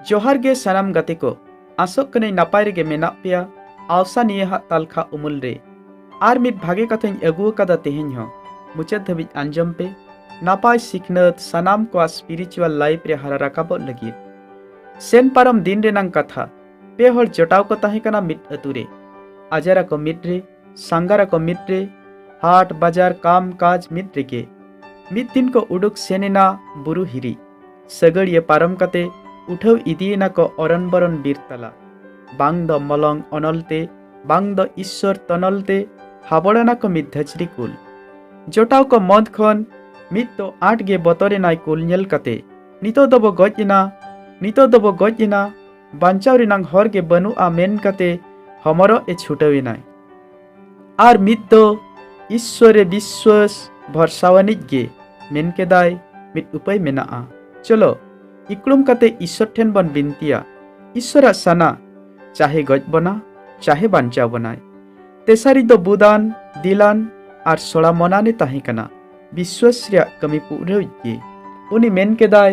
ᱡᱚᱦᱟᱨ ᱜᱮ ᱥᱟᱱᱟᱢ ᱜᱟᱛᱮ ᱠᱚ ᱟᱥᱚᱜ ᱠᱟᱹᱱᱟᱹᱧ ᱱᱟᱯᱟᱭ ᱨᱮᱜᱮ ᱢᱮᱱᱟᱜ ᱯᱮᱭᱟ ᱟᱣᱥᱟ ᱱᱤᱭᱟᱹ ᱦᱟᱜ ᱛᱟᱞᱠᱷᱟ ᱩᱢᱩᱞ ᱨᱮ ᱟᱨ ᱢᱤᱫ ᱵᱷᱟᱜᱮ ᱠᱟᱛᱷᱟᱧ ᱟᱹᱜᱩ ᱟᱠᱟᱫᱟ ᱛᱮᱦᱮᱧ ᱦᱚᱸ ᱢᱩᱪᱟᱹᱫ ᱫᱷᱟᱹᱵᱤᱡ ᱟᱸᱡᱚᱢ ᱯᱮ ᱱᱟᱯᱟᱭ ᱥᱤᱠᱷᱱᱟᱹᱛ ᱥᱟᱱᱟᱢ ᱠᱚᱣᱟᱜ ᱥᱯᱤᱨᱤᱪᱩᱣᱟᱞ ᱞᱟᱭᱤᱯᱷ ᱨᱮ ᱦᱟᱨᱟ ᱨᱟᱠᱟᱵᱚᱜ ᱞᱟᱹᱜᱤᱫ ᱥᱮᱱ ᱯᱟᱨᱚᱢ ᱫᱤᱱ ᱨᱮᱱᱟᱝ ᱠᱟᱛᱷᱟ ᱯᱮ ᱦᱚᱲ ᱡᱚᱴᱟᱣ ᱠᱚ ᱛᱟᱦᱮᱸ ᱠᱟᱱᱟ ᱢᱤᱫ ᱟᱹᱛᱩ ᱨᱮ ᱟᱡᱟᱨ ᱟᱠᱚ ᱢᱤᱫ ᱨᱮ ᱥᱟᱸᱜᱷᱟᱨ ᱟᱠᱚ ᱢᱤᱫ ᱨᱮ ᱦᱟᱴ ᱵᱟᱡᱟᱨ ᱠᱟᱢ ᱠᱟᱡᱽ ᱢᱤᱫ ᱨᱮᱜᱮ ᱢᱤᱫ ᱫᱤᱱ ᱠᱚ ᱩᱰᱩᱠ ᱥᱮᱱ ᱮᱱᱟ ᱵᱩᱨᱩ ᱦᱤᱨᱤ ᱥᱟᱹᱜᱟᱹᱲᱤᱭᱟᱹ ᱯᱟᱨᱚᱢ ᱠᱟᱛᱮ ᱩᱴᱷᱟᱹᱣ ᱤᱫᱤᱭᱮᱱᱟ ᱠᱚ ᱚᱨᱚᱱ ᱵᱚᱨᱚᱱ ᱵᱤᱨ ᱛᱟᱞᱟ ᱵᱟᱝ ᱫᱚ ᱢᱚᱞᱚᱝ ᱚᱱᱚᱞ ᱛᱮ ᱵᱟᱝ ᱫᱚ ᱤᱥᱥᱚᱨ ᱛᱚᱱᱚᱞ ᱛᱮ ᱦᱟᱵᱚᱲᱟᱱᱟ ᱠᱚ ᱢᱤᱫ ᱫᱷᱟᱹᱪᱨᱤ ᱠᱩᱞ ᱡᱚᱴᱟᱣ ᱠᱚ ᱢᱚᱫ ᱠᱷᱚᱱ ᱢᱤᱫ ᱫᱚ ᱟᱸᱴ ᱜᱮ ᱵᱚᱛᱚᱨᱮᱱᱟᱭ ᱠᱩᱞ ᱧᱮᱞ ᱠᱟᱛᱮ ᱱᱤᱛᱚᱜ ᱫᱚᱵᱚ ᱜᱚᱡ ᱮᱱᱟ ᱱᱤᱛᱚᱜ ᱫᱚᱵᱚ ᱜᱚᱡ ᱮᱱᱟ ᱵᱟᱧᱪᱟᱣ ᱨᱮᱱᱟᱝ ᱦᱚᱨ ᱜᱮ ᱵᱟᱹᱱᱩᱜᱼᱟ ᱢᱮᱱ ᱠᱟᱛᱮ ᱦᱚᱢᱚᱨᱚᱜ ᱮ ᱪᱷᱩᱴᱟᱹᱣᱮᱱᱟᱭ ᱟᱨ ᱢᱤᱫ ᱫᱚ ᱤᱥᱥᱚᱨᱮ ᱵᱤᱥᱥᱚᱥ ᱵᱷᱚᱨᱥᱟᱣᱟᱱᱤᱡ ᱜᱮ ᱢᱮᱱ ᱠᱮᱫᱟᱭ ᱢᱤᱫ ᱩᱯᱟᱹᱭ ᱢᱮᱱᱟᱜᱼᱟ ᱪᱚᱞᱚ ᱤᱠᱲᱩᱢ ᱠᱟᱛᱮ ᱤᱥᱥᱚᱨ ᱴᱷᱮᱱ ᱵᱚᱱ ᱵᱤᱱᱛᱤᱭᱟ ᱤᱥᱥᱚᱨᱟᱜ ᱥᱟᱱᱟ ᱪᱟᱦᱮ ᱜᱚᱡ ᱵᱚᱱᱟ ᱪᱟᱦᱮ ᱵᱟᱧᱪᱟᱣ ᱵᱚᱱᱟᱭ ᱛᱮᱥᱟᱨᱤ ᱫᱚ ᱵᱩᱫᱟᱱ ᱫᱤᱞᱟᱱ ᱟᱨ ᱥᱚᱲᱟ ᱢᱚᱱᱟᱱᱮ ᱛᱟᱦᱮᱸ ᱠᱟᱱᱟ ᱵᱤᱥᱥᱚᱥ ᱨᱮᱭᱟᱜ ᱠᱟᱹᱢᱤ ᱯᱩᱨᱟᱹᱣᱤᱡ ᱜᱮ ᱩᱱᱤ ᱢᱮᱱ ᱠᱮᱫᱟᱭ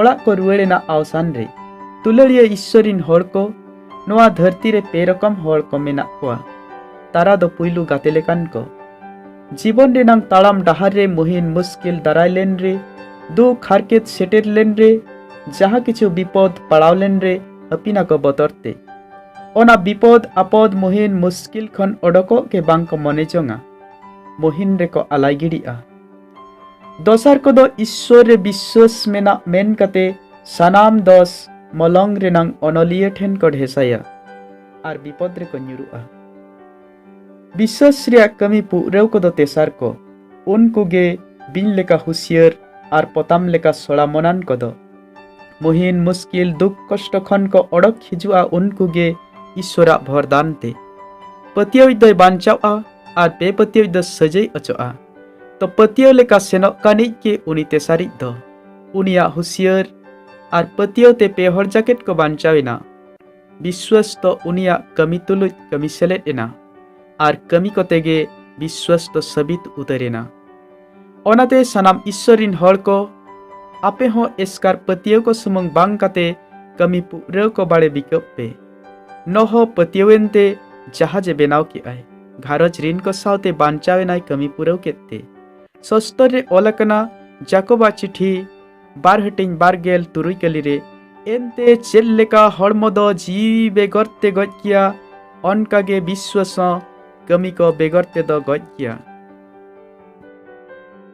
ᱚᱲᱟᱜ ᱠᱚ ᱨᱩᱣᱟᱹᱲ ᱮᱱᱟ ᱟᱣᱥᱟᱱ ᱨᱮ ᱛᱩᱞᱟᱹᱲᱤᱭᱟᱹ ᱤᱥᱥᱚᱨᱤᱱ ᱦᱚᱲ ᱠᱚ ᱱᱚᱣᱟ ᱫᱷᱟᱹᱨᱛᱤ ᱨᱮ ᱯᱮ ᱨᱚᱠᱚᱢ ᱦᱚᱲ ᱠᱚ ᱢᱮᱱᱟᱜ ᱠᱚᱣᱟ ᱛᱟᱨᱟ ᱫᱚ ᱯᱩᱭᱞᱩ ᱜᱟᱛᱮ ᱞᱮᱠᱟᱱ ᱠᱚ ᱡᱤᱵᱚᱱ ᱨᱮᱱᱟᱝ ᱛᱟᱲᱟᱢ ᱰᱟᱦᱟᱨ ᱨᱮ ᱢᱩᱦᱤᱱ ᱢᱩᱥᱠᱤᱞ ᱫᱟᱨᱟᱭ ᱞᱮᱱ ᱨᱮ ᱫᱩᱠ ᱦᱟᱨᱠᱮᱛ ᱥᱮᱴᱮᱨ ᱞᱮᱱ ᱨᱮ ᱡᱟᱦᱟᱸ ᱠᱤᱪᱷᱩ ᱵᱤᱯᱚᱫ ᱯᱟᱲᱟᱣ ᱞᱮᱱ ᱨᱮ ᱦᱟᱹᱯᱤᱱᱟ ᱠᱚ ᱵᱚᱛᱚᱨ ᱛᱮ ᱚᱱᱟ ᱵᱤᱯᱚᱫ ᱟᱯᱚᱫ ᱢᱩᱦᱤᱱ ᱢᱩᱥᱠᱤᱞ ᱠᱷᱚᱱ ᱚᱰᱚᱠᱚᱜ ᱜᱮ ᱵᱟᱝ ᱠᱚ ᱢᱚᱱᱮ ᱡᱚᱝᱟ ᱢᱩᱦᱤᱱ ᱨᱮᱠᱚ ᱟᱞᱟᱭ ᱜᱤᱰᱤᱜᱼᱟ ᱫᱚᱥᱟᱨ ᱠᱚᱫᱚ ᱤᱥᱥᱚᱨ ᱨᱮ ᱵᱤᱥᱥᱟᱹᱥ ᱢᱮᱱᱟᱜ ᱢᱮᱱ ᱠᱟᱛᱮ ᱥᱟᱱᱟᱢ ᱫᱚᱥ ᱢᱚᱞᱚᱝ ᱨᱮᱱᱟᱝ ᱚᱱᱚᱞᱤᱭᱟᱹ ᱴᱷᱮᱱ ᱠᱚ ᱰᱷᱮᱥᱟᱭᱟ ᱟᱨ ᱵᱤᱯᱚᱫ ᱨᱮᱠᱚ ᱧᱩᱨᱩᱜᱼᱟ ᱵᱤᱥᱥᱟᱹᱥ ᱨᱮᱭᱟᱜ ᱠᱟᱹᱢᱤ ᱯᱩᱨᱟᱹᱣ ᱠᱚᱫᱚ ᱛᱮᱥᱟᱨ ᱠᱚ ᱩᱱᱠᱩ ᱜᱮ ᱵᱤᱧ ᱞᱮᱠᱟ ᱦᱩᱥᱤᱭᱟᱹᱨ ᱟᱨ ᱯᱚᱛᱟᱢ ᱞᱮᱠᱟ ᱥᱚᱲᱟ ᱢᱚᱱᱟᱱ ᱠᱚᱫᱚ ᱢᱩᱦᱤᱱ ᱢᱩᱥᱠᱤᱞ ᱫᱩᱠ ᱠᱚᱥᱴᱚ ᱠᱷᱚᱱ ᱠᱚ ᱚᱰᱚᱠ ᱦᱤᱡᱩᱜᱼᱟ ᱩᱱᱠᱩ ᱜᱮ ᱤᱥᱥᱚᱨᱟᱜ ᱵᱷᱚᱨᱫᱟᱱ ᱛᱮ ᱯᱟᱹᱛᱭᱟᱹᱣᱤᱡ ᱫᱚᱭ ᱵᱟᱧᱪᱟᱣᱼᱟ ᱟᱨ ᱵᱮᱯᱟᱹᱛᱭᱟᱹᱣᱤᱡ ᱫᱚ ᱥᱟᱹᱡᱟᱹᱭ ᱚᱪᱚᱜᱼᱟ ᱛᱚ ᱯᱟᱹᱛᱭᱟᱹᱣ ᱞᱮᱠᱟ ᱥᱮᱱᱚᱜ ᱠᱟᱱᱤᱡ ᱜᱮ ᱩᱱᱤ ᱛᱮ ᱥᱟᱨᱤᱡ ᱫᱚ ᱩᱱᱤᱭᱟᱜ ᱦᱩᱥᱤᱭᱟᱹᱨ ᱟᱨ ᱯᱟᱹᱛᱭᱟᱹᱣ ᱛᱮ ᱯᱮ ᱦᱚᱲ ᱡᱟᱠᱮᱴ ᱠᱚ ᱵᱟᱧᱪᱟᱣ ᱮᱱᱟ ᱵᱤᱥᱣᱟᱥ ᱫᱚ ᱩᱱᱤᱭᱟᱜ ᱠᱟᱹᱢᱤ ᱛᱩᱞᱩᱡ ᱠᱟᱹᱢᱤ ᱥᱮᱞᱮᱫ ᱮᱱᱟ ᱟᱨ ᱠᱟᱹᱢᱤ ᱠᱚᱛᱮ ᱜᱮ ᱵᱤᱥᱣᱟᱥ ᱫᱚ ᱥᱟᱹᱵᱤᱛ ᱩᱛᱟᱹᱨ ᱮᱱᱟ ᱚᱱᱟᱛᱮ ᱥᱟᱱᱟᱢ ᱤᱥᱥᱚᱨ ᱨᱤᱱ ᱦᱚᱲ ᱠᱚ ᱟᱯᱮ ᱦᱚᱸ ᱮᱥᱠᱟᱨ ᱯᱟᱹᱛᱭᱟᱹᱣ ᱠᱚ ᱥᱩᱢᱩᱝ ᱵᱟᱝ ᱠᱟᱛᱮ ᱠᱟᱹᱢᱤ ᱯᱩᱨᱟᱹᱣ ᱠᱚ ᱵᱟᱲᱮ ᱵᱤᱠᱟᱹᱵ ᱯᱮ ᱱᱚᱦᱚ ᱯᱟᱹᱛᱭᱟᱹᱣᱮᱱ ᱛᱮ ᱡᱟᱦᱟᱡᱽ ᱮ ᱵᱮᱱᱟᱣ ᱠᱮᱫ ᱟᱭ ᱜᱷᱟᱨᱚᱸᱡᱽ ᱨᱤᱱ ᱠᱚ ᱥᱟᱶᱛᱮ ᱵᱟᱧᱪᱟᱣ ᱮᱱᱟᱭ ᱠᱟᱹᱢᱤ ᱯᱩᱨᱟᱹᱣ ᱠᱮᱫ ᱛᱮ ᱥᱚᱥᱛᱚᱨ ᱨᱮ ᱚᱞ ᱟᱠᱟᱱᱟ ᱡᱟᱠᱚᱵᱟ ᱪᱤᱴᱷᱤ ᱵᱟᱨ ᱦᱟᱹᱴᱤᱧ ᱵᱟᱨ ᱜᱮᱞ ᱛᱩᱨᱩᱭ ᱠᱟᱹᱞᱤ ᱨᱮ ᱮᱱᱛᱮ ᱪᱮᱫ ᱞᱮᱠᱟ ᱦᱚᱲᱢᱚ ᱫᱚ ᱡᱤᱣᱤ ᱵᱮᱜᱚᱨ ᱛᱮ ᱜᱚᱡ ᱜᱮᱭᱟ ᱚᱱᱠᱟ ᱜᱮ ᱵᱤᱥᱣᱟᱥ ᱦᱚᱸ ᱠᱟᱹᱢᱤ ᱠᱚ ᱵᱮᱜᱚᱨ ᱛᱮᱫᱚ ᱜᱚᱡ ᱜᱮᱭᱟ